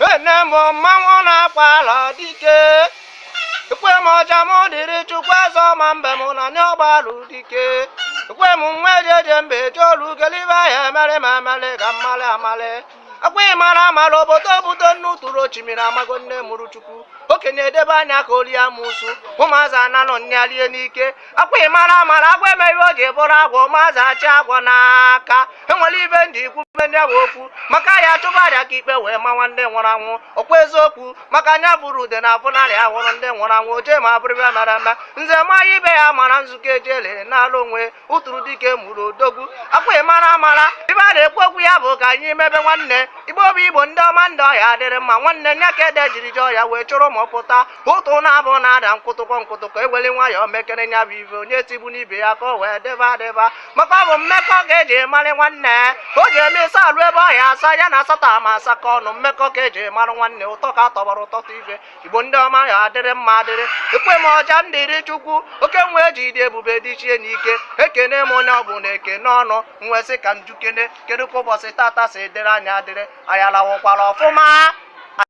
Nne m mmanwụ na-akpa ala dike ekwe m ọja m dịrị chukwu eze ma mbe m na ndị ọgbalụ dike ekwe m nwa ejeje mbe ejeolu gelibe ahịa emere ma emere ka mmalị amalị akwa ị mara amara obodo obodo nne ụtụrụ ochimiri amago nne mụrụ chukwu okenye edebe anya ka o lie amusu ụmụazị ananọ nyalie n'ike akwa ị mara mara agwọ eme ihe o ji bụrụ agwọ ụmụazị achị agwọ n'aka enwere ibe ndị ikwu be ndị agwa okwu maka ya chụba aja ka ikpe wee mawa ndị nwụrụ anwụ ọkwa eziokwu maka anya bụrụ ude na abụnarị ahụrụ ndị nwụrụ anwụ oje ma abụrịbe mere eme nze ma ya ibe ya mara nzukọ eji elere n'ala onwe ụtụrụ dike mụrụ odogwu akwa ị mara mara ibe a na-ekwu okwu ya bụ ka anyị mebe nwanne igbo bụ igbo ndị ọma ndị ọ ya-adịrị mma nwanne nya ka ede jiri jọọ ya wee chụrụ ma ọ pụta ụtụ na-abụ na-ada nkwụtụkọ nkwụtụkọ eweli nwayọọ mekere nya bụ ife onye tigbu n'ibe ya ka o wee deba adịba maka ọ bụ mmekọ ka eji marụ nwanne o ji eme ịsa alụ ebe ọhịa asa ya na asatọ ama asa ka ọnụ mmekọ ka eji marụ nwanne ụtọ ka atọgbara ụtọtụ ife igbo ndị ọma ya adịrị mma adịrị ekwe m ọja m dịrị chukwu oke nwe eji dị ebube dị chie n'ike ekene m onye ọ bụna ekene ọnụ nwesị ka m jụkene kedu ka ụbọchị tata si dịrị anyị adịrị anyị alarụkwara ọfụma